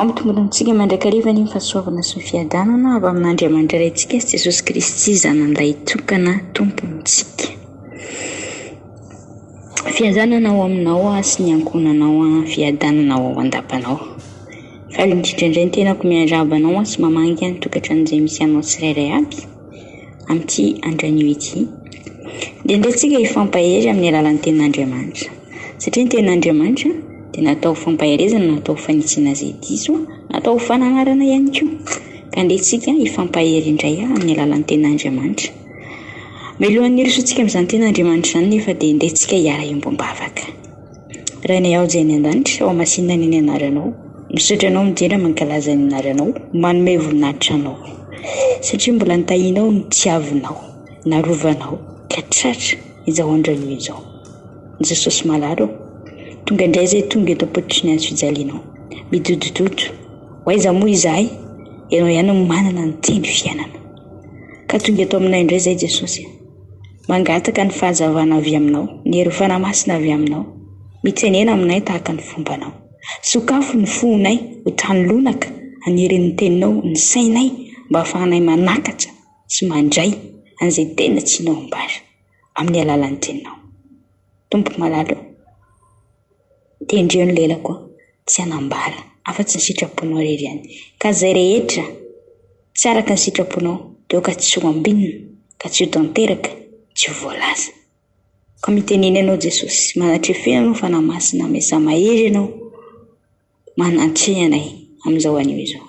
Ampitombonintsika mandrakariva ny fahasoavana sy ny fiadanana avy amin'Andriamanitra Raintsika sy Jesosy Kristy Zanany Lahitokana Tompontsika. Fiadanana ao aminao aho sy ny ankohonanao aho Fiadanana ho ao an-dapanao aho Faly indrindra indray ny tenako miarahaba anao aho sy mamangy ahy ny tokantrano izay misy anao tsirairay avy amin'ity andro anio ity Dia indray tsika hifampahery amin'ny alalan'ny tenin'Andriamanitra satria ny tenin'Andriamanitra dia natao ho fampaherezana natao ho fanitsiana izay diso natao ho fananarana ihany koa ka andeha tsika hifampahery indray amin'ny alalan'ny tenin'Andriamanitra Melohan'ny hirosoantsika amin'izany tena Andriamanitra izany nefa dia entintsika hiara-hiomba am-bavaka. Rainay Ao Izay any An-danitra, Ao Masina anie ny Anaranao. Misaotra Anao mijery ary mankalaza ny Anaranao, manome voninahitra Anao. Satria mbola nitahianao ny tiavinao, narovanao ka tratra izao andron'io izao. Jesosy Malala ô, tonga indray izay tonga eto am-pototry ny Hazo fijalianao. Midodododo, ho aiza moa izahay? Ianao ihany no manana ny Teny fiainana. Ka tonga eto aminay indray izay Jesosy a! Mangataka ny fahazavana avy Aminao, ny Hery Fanahy Masina avy Aminao, mitsenena aminay tahaka ny fombanao. Sokafy ny fonay ho tany lonaka an'herin'ny Teninao, ny sainay mba hahafahanay manakatra sy mandray an'izay tena tianao hambara amin'ny alalan'ny Teninao. Tompo malala o! Tendreo ny lelako tsy hanambara afa-tsy ny sitraponao irery ihany. Ka izay rehetra tsy araka ny sitraponao dia aoka tsy ho ambinina ka tsy ho tanteraka, tsy ho voalaza. Ka mitenena ianao Jesosy, manatrefena anao Fanahy Masina, miasa-mahery ianao, manantre anay amin'izao anio izao.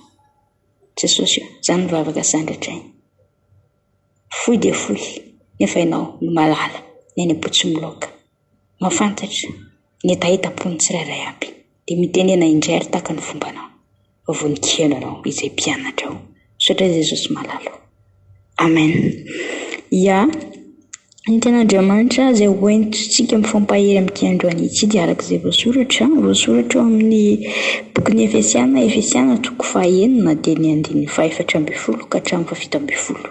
Jesosy o, izaho nivavaka sandratray, fohy dia fohy nefa ianao no mahalala ny any am-po tsy miloaka. Mahafantatra ny hetahetam-pon'ny tsirairay aby dia mitenena indray ary tahaka ny fombanao raha vao nikihana anao izay mpianatra ao. Misaotra Jesosy malala o. Amen. Ya, ny tenin'Andriamanitra izay ho entintsika mifampahery amin'ity androany ity dia araka izay voasoratra, voasoratra ao amin'ny bokin'ny Efesiana, Efesiana toko fahenina dia ny andininy fahefatra ambin'ny folo ka hatramin'ny fahafito ambin'ny folo.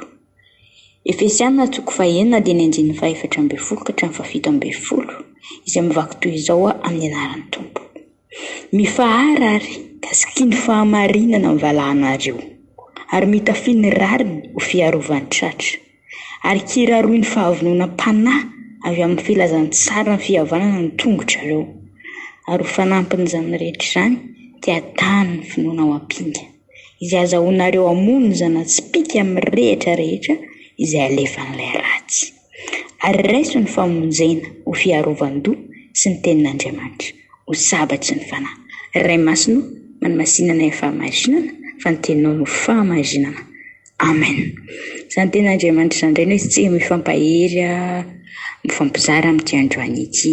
izay mivaky toy izao amin'ny anaran'ny Tompo. Mifahara ary ka sikino fahamarinana ny valahanareo ary mitafia ny rariny ho fiarovan-tratra ary kiraroy ny fahavononam-panahy avy amin'ny filazantsaran'ny fihavanana ny tongotrareo ary ho fanampin'izany rehetra izany dia tano ny finoana ao am-pinga. izay azahoanareo hamono zana-tsipìka mirehitra rehetra izay alefan'ilay ratsy. Ary raiso ny famonjena ho fiarovan-doha sy ny tenin'Andriamanitra ho sabatry ny fanahy. Ray Masina ô, manamasinana ny fahamasinana, fa ny Teninao no fahamasinana. Amen. Izany tenin'Andriamanitra izany indray no izy tsy mifampahery mifampizara amin'ity androany ity.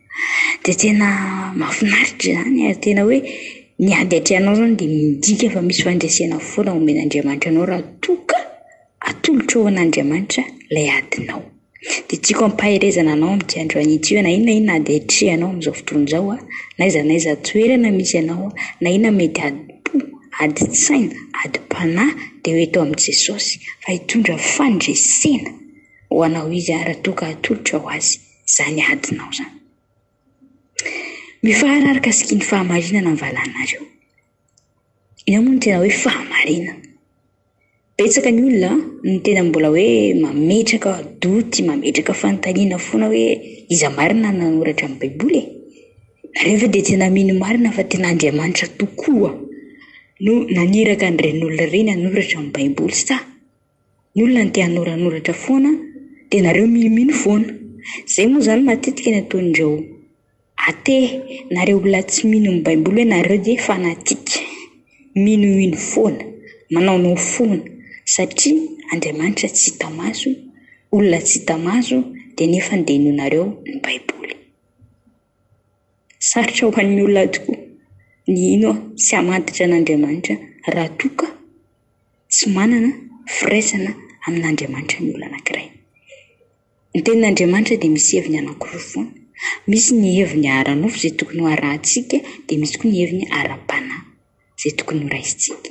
dia tena mahafinaritra izany ary tena hoe ny ady an-tranao izany dia midika fa misy fandresena foana omen'Andriamanitra anao raha toa ka atolotro ho an'Andriamanitra ilay adinao. Dia tiako ampaherezana anao amin'ity andro an'ity hoe na inona na inona ady atrehanao amin'izao fotoana izao an, na aiza na aiza toerana misy anao, na inona mety adim-po, adin-tsaina, adim-panahy dia ho eto amin'i Jesosy fa hitondra fandresena ho anao izy raha toa ka atolotro ho azy. izany adinao izany. Mifaharar mikasika ny fahamarinana ny valanareo. Inona moa no tena hoe fahamarinana? Betsaka ny olona no tena mbola hoe mametraka doute, mametraka fanontaniana foana hoe iza marina no nanoratra ny Baiboly e? Nareo ve dia tena mino marina fa tena Andriamanitra tokoa no naniraka an'ireny olona ireny hanoratra ny Baiboly sa? Ny olona ny te hanoranoratra foana dia nareo minomino foana. Izay moa izany matetika ny ataon'ireo athée nareo olona tsy mino ny baiboly hoe nareo dia fanatique. Minomino foana, manaonao foana satria Andriamanitra tsy hita maso, olona tsy hita maso dia nefa dia inoanareo ny baiboly. sarotra ho an'ny olona tokoa ny hino sy hamadika an'Andriamanitra raha toa ka tsy manana firaisana amin'Andriamanitra ny olona anankiray. Ny tenin'Andriamanitra dia misy heviny anankiroa foana, misy ny heviny ara-nofo izay tokony ho arahintsika dia misy koa ny heviny ara-panahy. izay tokony horaisintsika.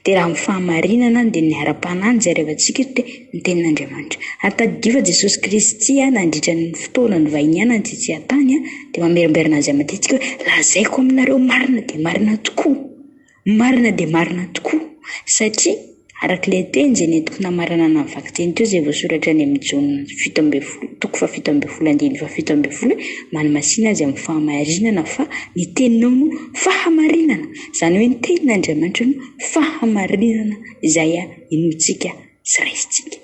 Dia raha amin'ny fahamarinana dia ny ara-panahy no jarevantsika eto dia ny Tenin'Andriamanitra. Ary tadidio fa Jesosy Kristy nandritra ny fotoana nivahinianany tetsy an-tany dia mamerimberina azy aman-diantsika hoe, Lazaiko aminareo marina dia marina tokoa, marina dia marina tokoa, satria. Araka ilay teny izay nentiko namaranana ny vakiteny teo izay voasoratra any amin'ny Jaona fito ambin'ny folo toko fahafito ambin'ny folo andininy fahafito ambin'ny folo hoe manamasina azy amin'ny fahamarinana fa ny teninao no fahamarinana. Izany hoe ny tenin'Andriamanitra no fahamarinana izay inoantsika sy raisintsika.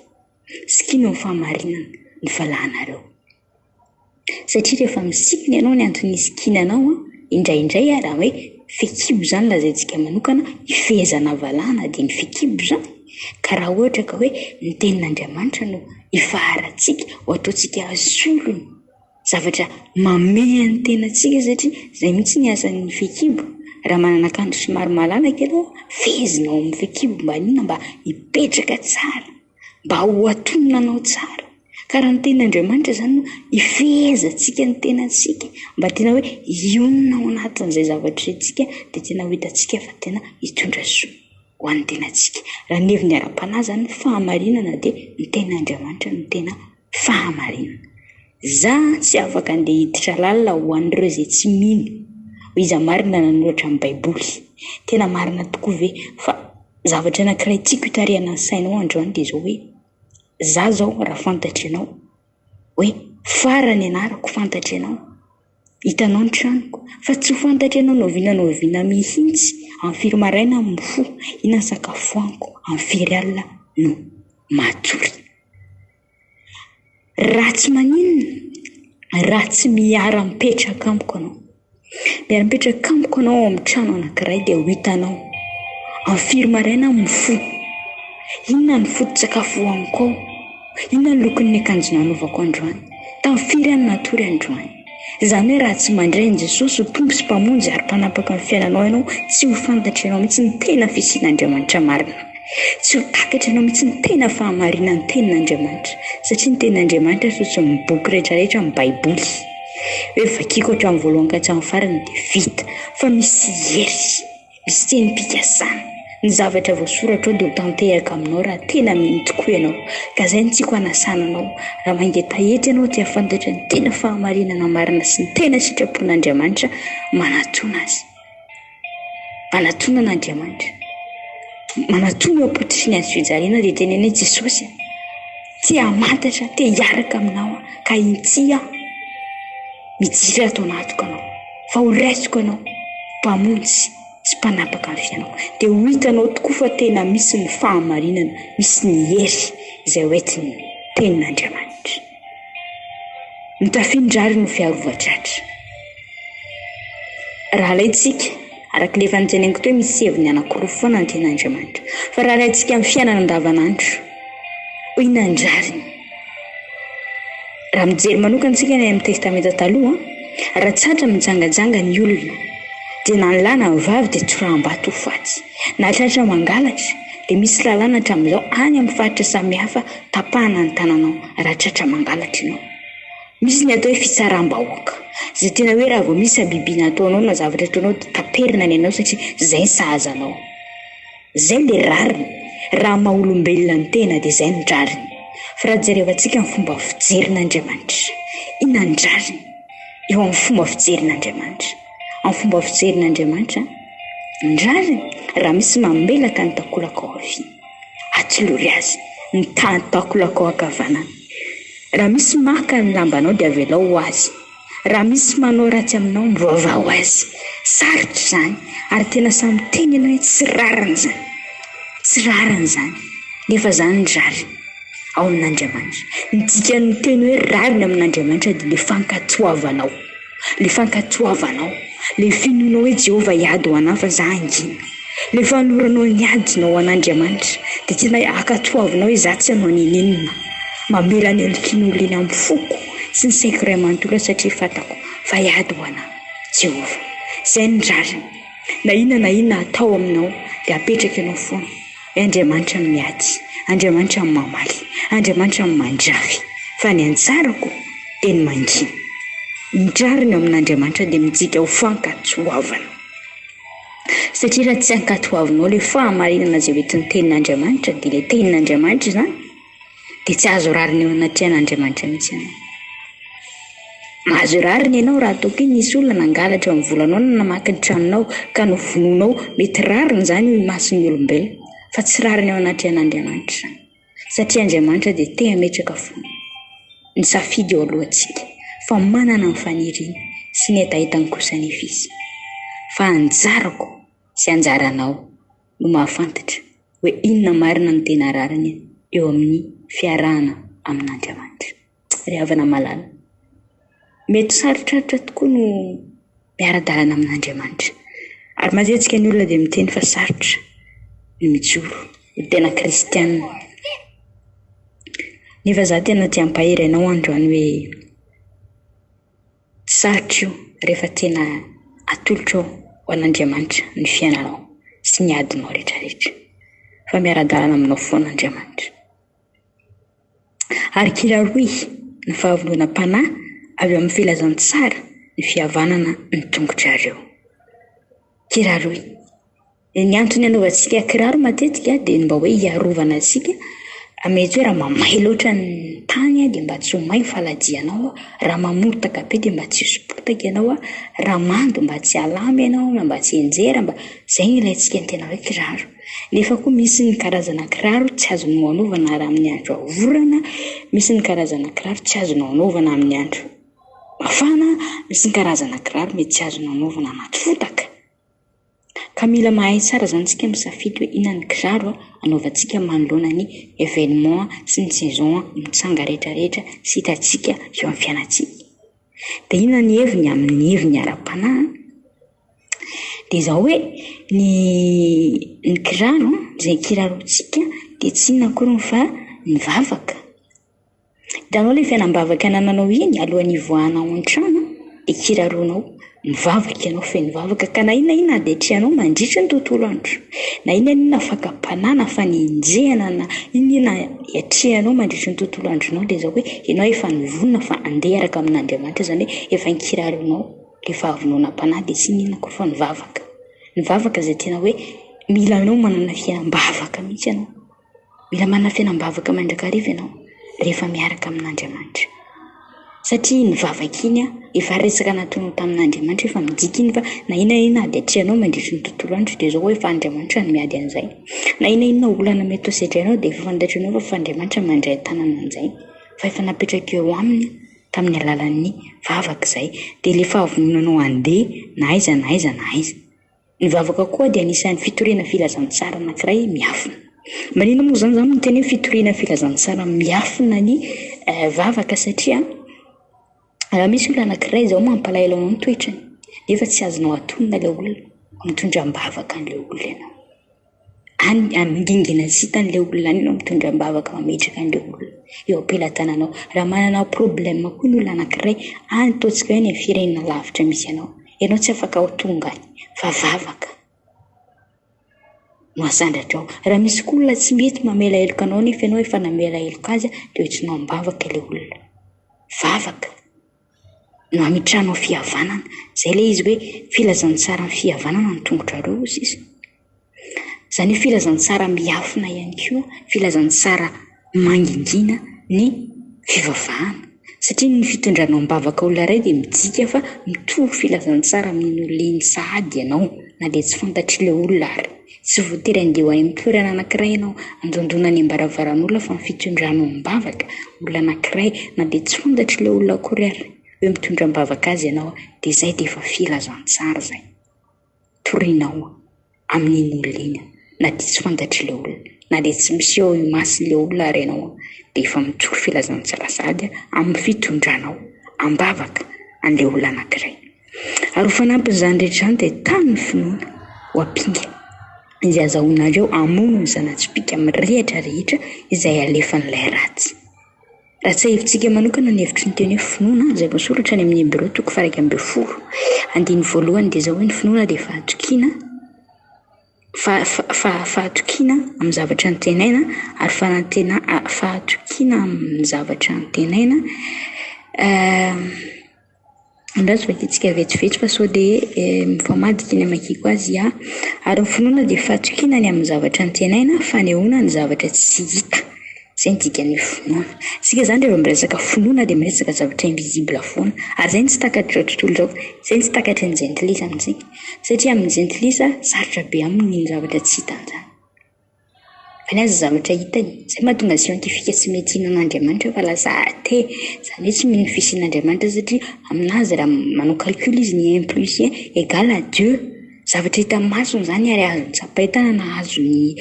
Sikino ny fahamarinana ny valahanareo. satria rehefa misintona ianao ny antony hisikinana anao an, indraindray ary hoe fehikibo izany lazaintsika manokana, hifehezana havalana dia ny fehikibo izany, ka raha ohatra ka hoe ny tenin'Andriamanitra no ifaharatsika, ho ataontsika solony, zavatra mamehy ny tenantsika satria izay mihitsy ny asan'ny fehikibo, raha manana akanjo somary malalaka ianao, fehezinao amin'ny fehikibo mba inona, mba hipetraka tsara. mba ho atonina anao tsara ka raha ny tenin' Andriamanitra izany no hifehezantsika ny tenantsika mba tena hoe hionona ao anatin'izay zavatra iantsika dia tena ho hitantsika fa tena hitondra soa ho an'ny tenantsika raha ny heviny ara-panahy izany ny fahamarinana dia ny tenin'Andriamanitra no tena fahamarinana. Za tsy afaka andeha hiditra lalina ho an'ireo izay tsy mino ho iza marina nanoratra ny baiboly. Tena marina tokoa ve? Fa zavatra anakiray tiako hitarihana ny sainao androany dia zao hoe, za zao raha fantatry anao hoe farany anarako fantatry anao, Hitanao ny tranoko, fa tsy ho fantatry ianao na oviana na oviana mihitsy amin'ny firy maraina no mifoha, inona no sakafo fohaniko, amin'ny firy alina no matory. Raha tsy maninona, raha tsy miara-mipetraka amiko ianao, miara-mipetraka amiko ianao ao amin'ny trano anankiray dia ho hitanao amin'ny firy maraina aho mifoha, inona ny foto-tsakafo hohaniko ao. Inona ny lokon'ny akanjo nanaovako androany? Tamin'ny firy aho no natory androany? Izany hoe raha tsy mandray an'i Jesosy ho Tompo sy Mpamonjy ary Mpanampaka ny fiainanao ianao, tsy ho fantatry ianao mihitsy ny tena fisian'Andriamanitra marina. Tsy ho takatry ianao mihitsy ny tena fahamarinan'ny Tenin'Andriamanitra, satria ny Tenin'Andriamanitra ary fotsiny ny boky rehetrarehetra amin'ny Baiboly. Hoe vakiako hatramin'ny voalohany ka hatramin'ny farany dia vita, fa misy hery. Misy tenim-pikasana. Ny zavatra voasoratra ao dia ho tanteraka aminao raha tena mino tokoa ianao. Ka izay no tiako hanasana anao. Raha mangetaheta ianao dia hahafantatra ny tena fahamarinana marina sy ny tena sitrapon'Andriamanitra manatòna Azy. Manatòna an'Andriamanitra. Manatòna eo am-pototry ny hazofijaliana dia teneno hoe, Jesosy a, te-hamantatra, te-hiaraka aminao aho, ka inty aho. Mijery ato anatiko ianao, fa ho raisiko ianao Mpamonjy sy Mpanapaka ny fiainako. Dia ho hitanao tokoa fa tena misy ny fahamarinana, misy ny hery izay ho entin'ny Tenin'Andriamanitra. Ny tafin'ny rariny ho fiarovan-tratra. Raha alaintsika. Araka ilay fanontanianko teo, misy heviny anankiroa foana ny tenan'Andriamanitra. Fa raha alaintsika amin'ny fiainana andavanandro, hoy ny an'ny rariny, raha mijery manokana isika ny any amin'ny Testamenta Taloha, raha tratra mijangajanga ny olona, dia na ny lahy na ny vavy dia tsoraham-bato ho faty. Na tratra mangalatra, dia misy lalàna hatramin'izao any amin'ny faritra samihafa tapahana ny tananao raha tratra mangalatra ianao. Misy ny atao hoe fitsaram-bahoaka, izay tena hoe raha vao misy habibiana ataonao na zavatra ataonao dia taperina ny anao satria izay ny sahaza anao. Izay no dia rariny, raha ny maha-olombelona ny tena dia izay no rariny. Fa raha jerevantsika ny fomba fijerin'Andriamanitra, inona ny rariny eo amin'ny fomba fijerin'Andriamanitra? Amin'ny fomba fijerin'Andriamanitra, ny rariny raha misy mamelaka ny takolaka ao aoriana. Atolory azy ny tahan'ny takolakao ankavanana. Raha misy maka ny lambanao dia avelao ho azy. Raha misy manao ratsy aminao, mivavà ho azy. Sarotra izany ary tena sahy miteny ianao hoe tsy rariny izany. Tsy rariny izany, nefa izany ny rariny ao amin'Andriamanitra. Ny dikan'ny teny hoe rariny amin'Andriamanitra dia ilay fankatoavanao. Ilay fankatoavanao, ilay finoanao hoe Jehovah hiady ho anao fa izaho hangina, ilay fanoloranao ny adinao ho an'Andriamanitra, dia tena ankatoavinao hoe izaho tsy hanao n'inon'inona. Mamela ny endriky ny olona eny amin'ny foko sy ny saiko iray manontolo aho satria fantako fa hiady ho anà Jehovah. Izay ny rariny. Na inona na inona atao aminao dia apetraka ianao foana. Andriamanitra ny miady, Andriamanitra ny mamaly, Andriamanitra ny mandrary, fa ny anjarako dia ny mangina. Ny rariny ao amin'Andriamanitra dia mijika ho fankatoavana. Satria raha tsy ankatoavinao ilay fahamarinana izay hoentin'ny tenin'Andriamanitra, dia ilay tenin'Andriamanitra izany, dia tsy azo rariny eo anatrehan' Andriamanitra mihitsy ianao. Mahazo rariny ianao raha toa ke nisy olona nangalatra ny volanao na namaky ny tranonao ka novonoinao, mety rariny izany eo imason'ny olombelona fa tsy rariny eo anatrehan' Andriamanitra izany satria Andriamanitra dia te hametraka fo ny safidy eo alohantsika fa manana ny faniriany sy ny hetahetany kosa anefa izy fa anjarako sy anjaranao no mahafantatra hoe inona marina no tena rariny eo amin'ny fiarahana amin'Andriamanitra. Ry havana malala, mety sarotrarotra tokoa no miara-dalana amin'Andriamanitra. Ary mazetsika ny olona dia miteny fa sarotra ny mijoro ho tena kristianina. Nefa za tena te hampahery anao androany hoe Tsy sarika io rehefa tena atolotro ho an'Andriamanitra ny fiainanao sy ny adinao rehetrarehetra, fa miara-dalana aminao foana Andriamanitra. Ary kila rohy ny fahavononam-panahy avy amin'ny filazantsara ny fihavanana ny tongotrareo. Kila rohy. Ny antony anaovantsika kiraro matetika dia ny mba hoe hiarovana antsika mety hoe raha mamay loatra ny tany dia mba tsy ho may ny faladianao, raha mamotaka be dia mba tsy hisy potaka ianao, raha mando mba tsy halama ianao na mba tsy hianjera mba, izay no ilaintsika ny tena hoe kiraro. Nefa koa misy ny karazana kiraro tsy azonao anaovana raha amin'ny andro orana, misy ny karazana kiraro tsy azonao anaovana amin'ny andro mafana, misy ny karazana kiraro mety tsy azonao anaovana anaty fotaka. Ka mila mahay tsara zany tsika misafidy hoe inona ny kiraro anaovantsika manoloana ny événement sy ny saison mitsanga rehetra rehetra sy hitantsika eo amin'ny fiainantsika. De inona ny heviny amin'ny heviny ara-panahy? De zao hoe ny ny kiraro, izay kirarontsika de tsy inona akoriny fa ny vavaka, Hitanao ilay fiainam-bavaka anananao iny alohan'ny hivoahana ao an-trano dia kiraronao, mivavaka ianao feno vavaka ka na inona na inona adihitrehanao mandritry ny tontolo andro, na inona na inona fakam-panahy na fanenjehana na inona na inona iatrehanao mandritry ny tontolo andronao dia izao hoe ianao efa nivonona fa handeha hiaraka amin'Andriamanitra izany hoe efa kiraronao ilay fahavononam-panahy dia tsy inona koa fa ny vavaka, ny vavaka izay tena hoe mila anao manana fiainam-bavaka mihintsy ianao. Mila manafena am-bavaka mandrakariva ianao rehefa miaraka amin'Andriamanitra. Satria iny vavaka iny efa resaka nataonao tamin'Andriamanitra efa midika iny fa na inona na inona ady atrehanao mandritry ny tontolo andro dia zao hoe efa Andriamanitra no miady an'izay. Na inona na inona olana mety ho sedrainao dia efa fantatrinao fa efa Andriamanitra no mandray an-tanana an'izay. Fa efa napetraka eo aminy tamin'ny alalan'ny vavaka izay. Dia ilay fahavononanao handeha na aiza na aiza na aiza. Ny vavaka koa dia anisan'ny fitoriana filazantsara anankiray miafina. Maninona moa izany izany no tena hoe fitoriana filazantsara miafina ny vavaka satria raha misy olona anankiray izao mampalahelo anao ny toetrany nefa tsy azonao atonina ilay olona, mitondra am-bavaka an'ilay olona ianao. any amin'ny dingana sy hitan'ilay olona any ianao mitondra am-bavaka mametraka an'ilay olona eo am-pelatananao. Raha manana problème koa ny olona anankiray any ataontsika hoe any amin'ny firenena lavitra misy anao, ianao tsy afaka ho tonga any fa vavaka no asandratra ao. Raha misy koa olona tsy mety mamela heloka anao nefa ianao efa namela heloka azy dia hoentinao am-bavaka ilay olona, vavaka. na ny tranon'ny fihavanana, izay ilay izy hoe filazantsaran'ny fihavanana ny tongotrareo hoy sisa, izany hoe filazantsara miafina ihany koa, filazantsara mangingina ny fivavahana satria ny fitondranao am-bavaka olona iray dia midika fa mitovy filazantsara amin'iny olona iny sahady ianao na dia tsy fantatr'ilay olona ary. Tsy voatery handeha ho any amin'ny toerana anankiray ianao handondona any am-baravaran'olona fa ny fitondrana ao am-bavaka olona anankiray na dia tsy fantatry ilay olona akory ary hoe mitondra am-bavaka azy ianao dia izay dia efa filazantsara izay torianao amin'iny olona iny na dia tsy fantatry ilay olona na dia tsy miseho eo imason'ilay olona ary ianao dia efa mijoro filazantsara sady amin'ny fitondranao am-bavaka an'ilay olona anankiray. Ary ho fanampin'izany rehetra izany dia tano ny finoana ho ampinga, izay azahoanareo hamono ny zana-tsipìka mirehitra rehetra izay alefan'ilay ratsy. Raha tsiahivitsika manokana ny hevitry ny teny hoe finoana izay voasoratra any amin'ny Hebreo toko faha iraika ambin'ny folo andininy voalohany dia izao hoe ny finoana dia fahatokiana fa- fa- fahatokiana amin'ny zavatra antenaina ary fanantena- fahatokiana amin'ny zavatra antenaina Andraso vakitsika vetsivetsy fa sao dia mifamadika ny hamakiako azy aho. Ary ny finoana dia fatokiana ny amin'ny zavatra antenaina, fanehoana ny zavatra tsy hita. Izay no dikan'ny finoana. Isika izany rehefa miresaka finoana dia miresaka zavatra invisible foana. Ary izay no tsy takatr'izao tontolo izao. Izay no tsy takatry ny jentilisa amintsika. Satria amin'ny jentilisa, sarotra be aminy ny zavatra tsy hitan'izany. Any aza zavatra hitany, izay mahatonga azy scientifique tsy mety hihinana an'Andriamanitra fa lasa athée, izany hoe tsy mino ny fisian'Andriamanitra satria aminazy raha manao calcul izy ny un plus un egal à deux, zavatra hitan'ny masony izany ary azony tsapain-tanana na azony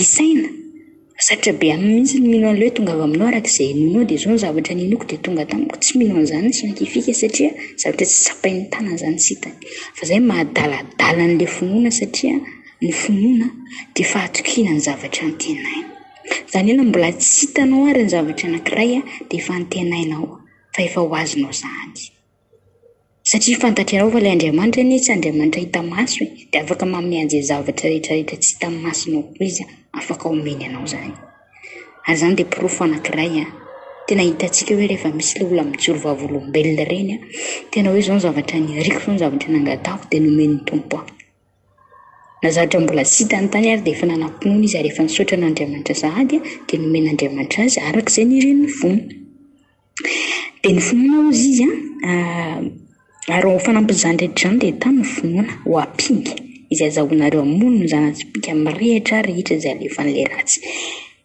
isaina, sarotra be aminy mihintsy ny mino an'ilay hoe tongava aminao araka izay inoanao dia izao ny zavatra ninoako dia tonga tamiko, tsy mino an'izany ny scientifique satria zavatra tsy tsapain'ny tanany izany tsy hitany, fa izay no maha adaladala an'ilay finoana satria. Ny finoana dia fahatokiana ny zavatra antenaina. Izany hoe na mbola tsy hitanao ary ny zavatra anankiray dia efa antenainao fa efa ho azonao izany. Satria fantatrao fa ilay Andriamanitra anie tsy Andriamanitra hita maso e, dia afaka manome an'izay zavatra rehetrarehetra tsy hitan'ny masonao koa izy, afaka omeny anao izany. Ary izany dia porofo anankiray tena hitantsika hoe rehefa misy ilay olona mijoro vavolombelona ireny, tena hoe izao ny zavatra niariko, izao ny zavatra nangatahako dia nomen'ny Tompo ahy. Na zatra mbola tsy hita ny tany ary dia efa nanam-pinoana izy ary efa nisaotra an'Andriamanitra sahady dia nomen'Andriamanitra azy araka izay nirin'ny fony. Dia ny finoana hozy izy ary ho fanampin'izany rehetra izany dia tano ny finoana ho ampinga izay azahoanareo hamono ny zana-tsipìka mirehitra rehetra izay alefan'ilay ratsy.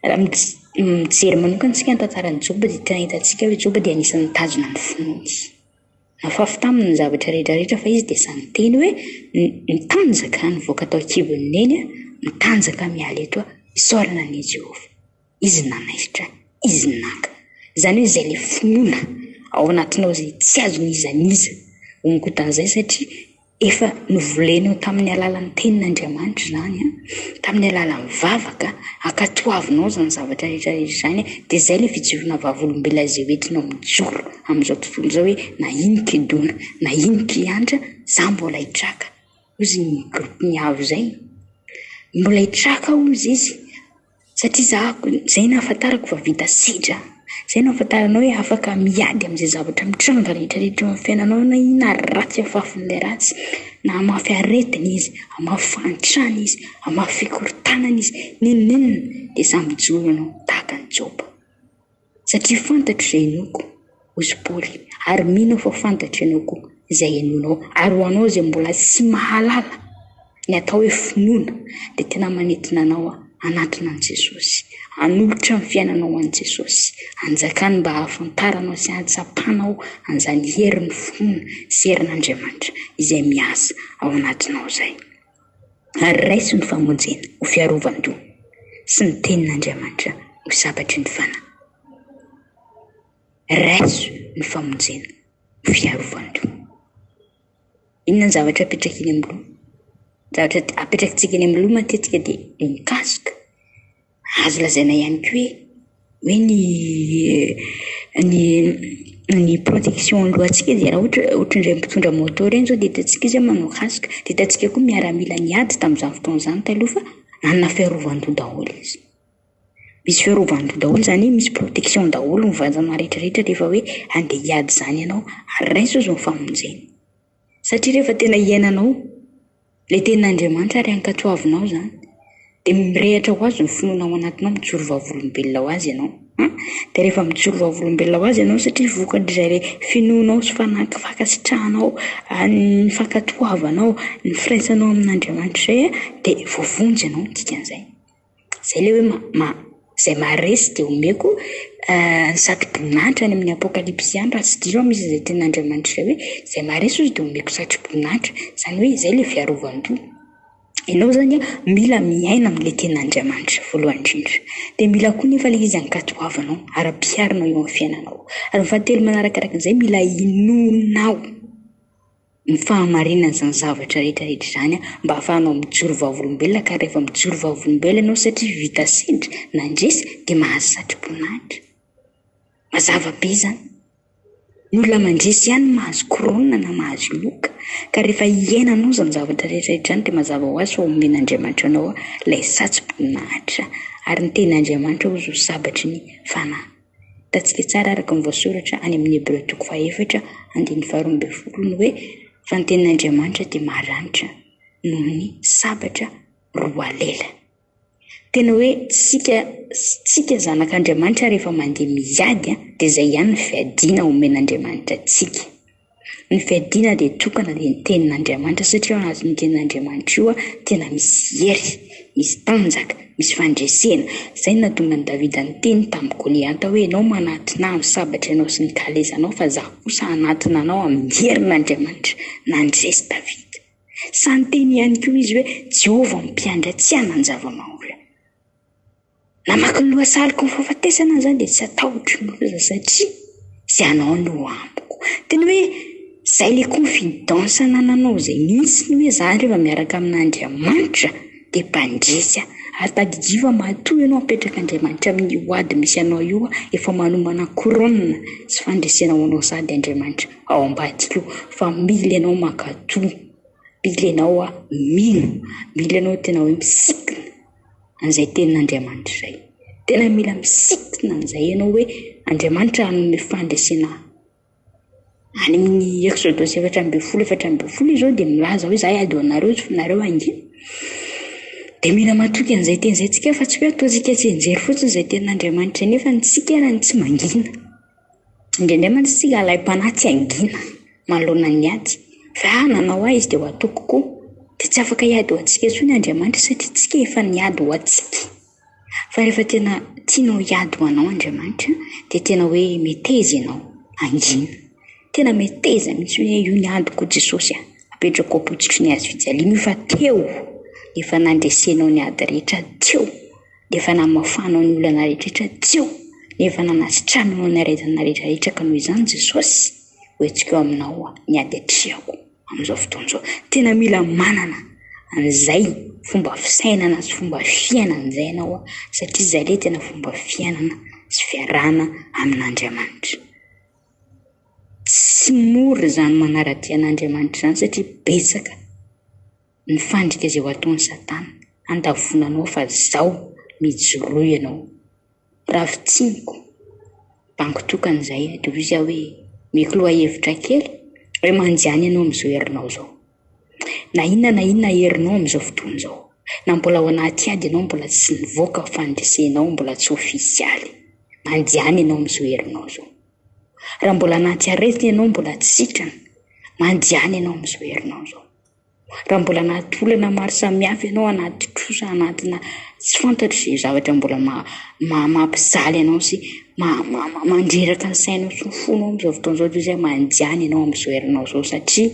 Raha mij- mijery manokana isika ny tantaran'i Joba dia tena hitantsika hoe Joba dia anisan'ny nitazona ny finoany. Nafafy taminy ny zavatra rehetra rehetra fa izy dia sahy niteny hoe, Mitanjaka aho nivoaka tao an-kibon'i Neny aho, mitanjaka aho miala eto aho, isaorana an' i Jehovah. Izy no nanaisotra ahy, izy no naka. Izany hoe izay ilay finoana ao anatinao izay tsy azon'iza n'iza hongotan'izay satria. Efa novolenao tamin'ny alalan'ny Tenin'Andriamanitra izany, tamin'ny alalan'ny vavaka, ankatoavinao izany zavatra rehetra rehetra izany, dia izay ilay fijoroana vavolombelona izay ho entinao mijoro amin'izao tontolo izao hoe, na ino kidona, na ino kihantra, izaho mbola hitraka, hoy izy ny gropin'ny avo izay, mbola hitraka hoy izy. Satria za izay nahafantarako fa vita sedra, izay nahafantarana hoe afaka miady amin'izay zavatra mitranga rehetrarehetra eo amin'ny fiainanao na inona ary ratsy afafin'ilay ratsy, na hamafy aretina izy, hamafy fahantrana izy, hamafy fikorontanana izy, n'inon'inona dia za mijoro aminao tahaka an'i Joba. Satria fantatro izay hinoako, hoy i Paoly, ary mino aho fa fantatro ianao koa izay hinoanao. Ary ho anao izay mbola tsy mahalala ny atao hoe finoana, dia tena manintona anao hanatona an'i Jesosy, hanolotra ny fiainanao ho an'i Jesosy, hanjakany mba hahafantaranao sy hahatsapanao an'izany herin'ny finoana sy herin'Andriamanitra izay miasa ao anatinao izay. ary raiso ny famonjena ho fiarovan-doha sy ny tenin'Andriamanitra ho sabatry ny fanahy. Raiso ny famonjena ho fiarovan-doha. Inona ny zavatra apetraka eny amin'ny loha? Zavatra apetrakintsika eny amin'ny loha matetika dia ny casque. Azo lazaina ihany koa hoe hoe ny ny ny protection alohantsika dia raha ohatra hoe ohatran'ireny mpitondra moto ireny izao dia hitantsika izy manao casque. Dia hitantsika koa miaramila niady tamin'izany fotoana izany taloha fa hanana fiarovan-doha daholo izy. Misy fiarovan-doha daholo izany hoe misy protection daholo ny vatana rehetrarehetra rehefa hoe handeha hiady izany ianao ary raiso izy ny famonjena. Satria rehefa tena iainanao ilay tenin'Andriamanitra ary ankatoavinao izany dia mirehatra ho Azy ny finoana ao anatinao, mijoro vavolombelona ho Azy ianao an! Dia rehefa mijoro vavolombelona ho Azy ianao satria vokatr'izay ilay finoanao sy fanahy fankasitrahanao ny fankatoavanao ny firaisanao amin'Andriamanitra izay dia voavonjy ianao ny dikan'izay. izay ilay hoe ma- ma- izay maharesy dia omeko ny satroboninahitra any amin'ny apokalypsy ihany raha tsy diso aho misy izay tenin'Andriamanitra izay hoe izay maharesy hozy dia omeko satroboninahitra izany hoe izay ilay fiarovan-doha ianao izany an, mila miaina amin'ilay tenin'Andriamanitra voalohany indrindra dia mila koa nefa ilay izy hankatoavinao, ampiharinao eo amin'ny fiainanao ary ny fahatelo manarakaraka an'izay mila inoanao ny fahamarinan'izany zavatra rehetra rehetra izany mba hahafahanao mijoro vavolombelona ka rehefa mijoro vavolombelona ianao satria vita sendra nandresy dia mahazo satroboninahitra. Mazava be izany. Ny olona mandresy ihany no mahazo korona na mahazo loka ka rehefa iainanao izany zavatra rehetra rehetra izany dia mazava ho azy fa omen'Andriamanitra anao ilay satroboninahitra ary ny tenin'Andriamanitra hoy izy io sabatry ny fanahy. Hitantsika tsara araka ny voasoratra any amin'ny Hebreo toko fahaefatra andininy faharoa ambin'ny folo ny hoe, fa ny tenin'Andriamanitra dia maharanitra noho ny sabatra roa lela. Tena hoe tsika tsika zanak'Andriamanitra rehefa mandeha miady dia izay ihany ny fiadiana omen'Andriamanitra antsika. Ny fiadiana dia tokana dia ny tenin'Andriamanitra satria ao anatin'io tenin'Andriamanitra io tena misy hery, misy tanjaka, misy fandresena. Izay no nahatonga an'i Davida niteny tamin'i Goliata hoe ianao manatona ahy amin'ny sabatra ianao sy ny kalesanaao fa izaho kosa hanatona anao amin'ny herin'Andriamanitra. Nandresy Davida. Sahy niteny ihany koa izy hoe Jehovah no mpiandry ahy, tsy hananjava-mahola. Namaky ny lohasahaniko ny fahafatesana aho zany dia tsy hatahotro ny loza satria tsy anao no amiko. Tena hoe zay le confidence anananao zay mintsy ny hoe za reva miaraka amin'Andriamanitra de mpandresy aho. Ary tadidio fa matoa ianao apetraka Andriamanitra amin'ny ho ady misy anao io an, efa manomana couronne sy fandresena ho anao sady Andriamanitra ao ambadika eo fa mila ianao mankatò, mila ianao mino, mila ianao tena hoe misikina. an'izay tenin'Andriamanitra izay. Tena mila misintona an'izay ianao hoe Andriamanitra hanome fandresena ahy. Any amin'ny Exodosy efatra ambin'ny folo efatra ambin'ny folo izao dia milaza hoe izaho hiady ho anareo sy nareo hangina. Dia mila matoky an'izay teny izay isika fa tsy hoe ataontsika tsianjery fotsiny izay tenin'Andriamanitra nefa ny antsika ary tsy mangina. Indraindray mantsy tsy lalaim-panahy tsy hangina manoloana ny ady. Raha nanao ahy izy dia ho ataoko koa. Dia tsy afaka hiady ho antsika intsony Andriamanitra satria isika efa niady ho antsika. Fa rehefa tena tianao hiady ho anao Andriamanitra dia tena hoe meteza ianao, hangina. Tena meteza mihitsy hoe io ny adiko Jesosy a! Apetrako am-pototry ny hazofijaliana io fa teo efa nandresenao ny ady rehetra teo. dia efa namafanao ny olana rehetraretra tsy eo, dia efa nanasitranao ny aretina rehetraretra ka noho izany Jesosy ho hetsika eo aminao aho, ny ady atrehako amin'izao fotoana izao. Tena mila manana an'izay fomba fisainana sy fomba fiainana izay ianao satria izay ilay tena fomba fiainana sy fiarahana amin'Andriamanitra. Tsy mora izany manara-dia an'Andriamanitra izany satria betsaka. Mifandrika izay ho ataon'i Satana handavoana anao fa izao mijoroa ianao. Ravo tsiniko, bango tokana izay, dia hoy izy aho hoe, mety lohahevitra kely hoe manjany ianao amin'izao herinao izao. Na inona na inona herinao amin'izao fotoana izao, na mbola ao anaty ady ianao mbola tsy nivoaka fandresenao mbola tsy ofisialy, manjany ianao amin'izao herinao izao. Raha mbola anaty aretina ianao mbola tsy sitrana, manjany ianao amin'izao herinao izao. Raha mbola anaty olana maro samihafa ianao, anaty trosa, anatina tsy fantatro izay zavatra mbola mampijaly anao sy mandreraka ny sainao sy ny fonao amin'izao fotoana izao dia izay manjany ianao amin'izao herinao izao satria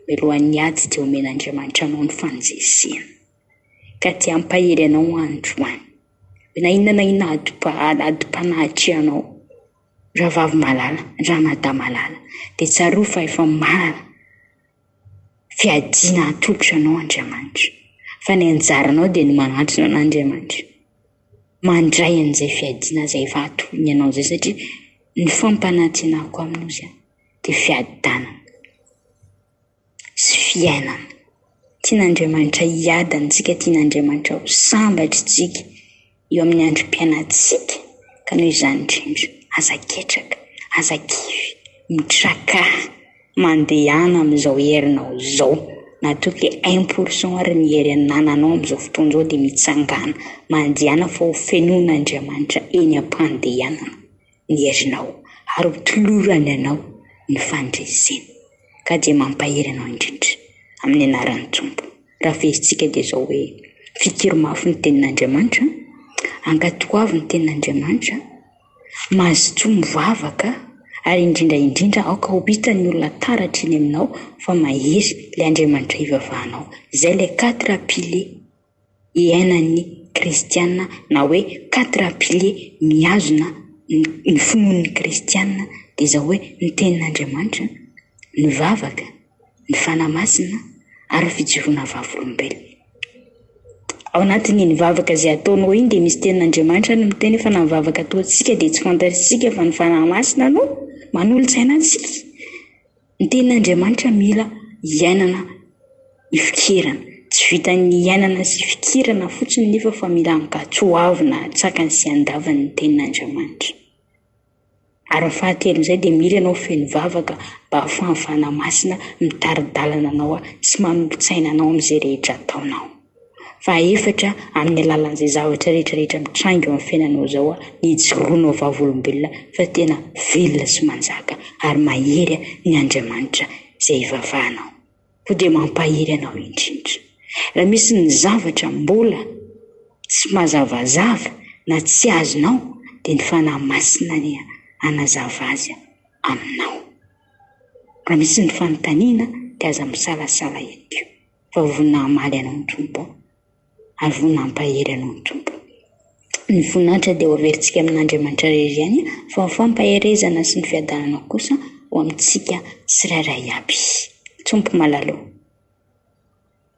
mialohan'ny ady dia omen'Andriamanitra anao ny fanjezena ka tsy hampahery anao androany. Na inona na inona adim-panahy anao Ravavy malala, Ranadahy malala dia tsarovy fa efa maro. Fiadiana hatolotra anao Andriamanitra, fa ny anjaranao dia ny manatona an'Andriamanitra. Mandray an'izay fiadiana izay efa atolony anao izay satria ny fampanantenako aminao izany dia fiadanana sy fiainana. Tian'Andriamanitra hiadana antsika, tian'Andriamanitra ho sambatra isika. eo amin'ny androm-piainantsika ka noho izany indrindra, aza ketraka, aza kivy, mitrakaha, mandehana amin'izao herinao izao, matoky hoe un pour cent ary ny hery anananao amin'izao fotoana izao dia mitsangàna, mandehana fa hofenoin'Andriamanitra eny am-pandehanana. ny herinao ary ho tolorany anao ny fandreseny ka dia mampahery anao indrindra amin'ny anaran'ny Tompo. Raha verentsika dia izao hoe, fikiry mafy ny tenin'Andriamanitra, ankatoavy ny tenin'Andriamanitra, mazotoa mivavaka ary indrindra indrindra aoka ho hitan'ny olona taratra eny aminao fa mahery ilay Andriamanitra ivavahanao. Izay ilay quatre piliers. iainan'ny kristiana na hoe quatre piliers mihazona ny finoan'ny kristiana dia izao hoe ny tenin'Andriamanitra, ny vavaka, ny fanahy masina ary ny fijoroana vavolombelona. Ao anatin'iny vavaka izay ataonao iny dia misy tenin'Andriamanitra ary miteny fa na ny vavaka ataontsika dia tsy fantatsika fa ny fanahy masina no manolo-tsaina antsika. Ny tenin'Andriamanitra mila iainana ifikirana. Tsy vitan'ny iainana sy ifikirana fotsiny nefa fa mila ankatso ho avy na antsakany sy andavany ny tenin'Andriamanitra. Ary ny fahatelon'izay dia mila ianao feno vavaka mba hahafahan'ny Fanahy Masina mitari-dalana anao sy manolo-tsaina anao amin'izay rehetra ataonao. Fahefatra, amin'ny alalan'izay zavatra rehetra rehetra mitranga eo amin'ny fiainanao izao ny hijoroanao vavolombelona fa tena velona sy manjaka ary mahery ny Andriamanitra izay ivavahanao. Koa dia mampahery anao indrindra. Raha misy ny zavatra mbola tsy mazavazava na tsy azonao dia ny Fanahy Masina ny hanazava azy aminao. Raha misy ny fanontaniana dia aza misalasala ihany koa. fa vonona hamaly anao ny Tompo ary vonona hampahery anao ny Tompo. Ny voninahitra dia ho averintsika amin'Andriamanitra rery ihany fa ny fampaherezana sy ny fiadanana kosa ho amintsika tsirairay iaby. Tompo malalo.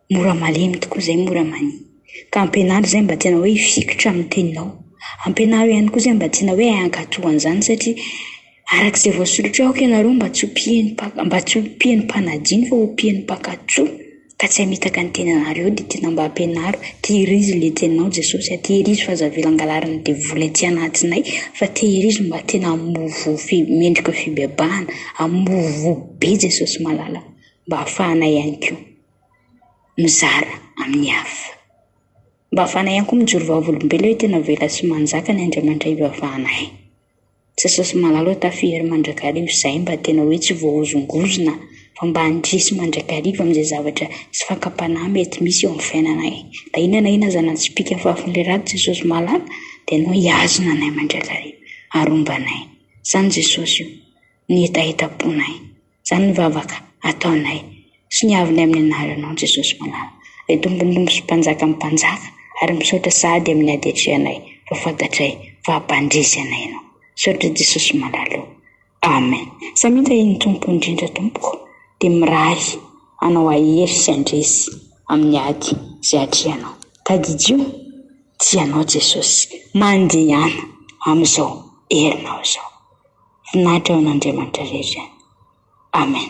Mora malemy tokoa izay mora mania. Ka ampianaro izay mba tena hoe hifikitra amin'ny teninao. Ampianaro ihany koa izay mba tena hoe hankatò an'izany satria Araka izay voasoratra eo, aoka ianareo mba tsy ho mpihaino mpaka, mba tsy ho mpihaino mpanadino fa ho mpihaino mpankatso, ka tsy hamitaka ny tenanareo, dia tena mba ampianaro, tehirizo ilay teninao Jesosy a, tehirizo fa aza avela angalarin'ny devoly aty anatinay, fa tehirizo mba tena hamoa voa fi- mendrika fibebahana, hamoa voa be Jesosy malala, mba hahafahanay ihany koa mizara amin'ny hafa, mba hahafahanay ihany koa mijoro vavolombelona hoe tena avela sy manjaka ny Andriamanitra ivavahanay. Jesosy malala eo tafiry eo mandrakariva izay mba tena hoe tsy voahozongozona fa mba handresy mandrakariva amin'izay zavatra sy fakam-panahy mety misy eo amin'ny fiainanay. Na inona na inona aza na tsy pika fahafolon'ilay rà Jesosy malala dia ianao hihazona anay mandrakariva ary homba anay. Izany Jesosy io, ny hetahetam-ponay. Izany ny vavaka ataonay sy ny avonay amin'ny anaran' Ianao Jesosy malala, Ray Tompon'ny Tompo sy Mpanjakan'ny mpanjaka, ary misaotra sahady amin'ny adetrehanay fa fantatray fa hampandresy anay Ianao. Misaotra Jesosy malala o. Amen. Samia tahin'ny Tompo indrindra tompoko dia mirary anao hahery sy handresy amin'ny ady izay atrehanao. Tadidio tsy ianao Jesosy mandehana amin'izao herinao izao. Voninahitra ho an'Andriamanitra rehetra. Amen.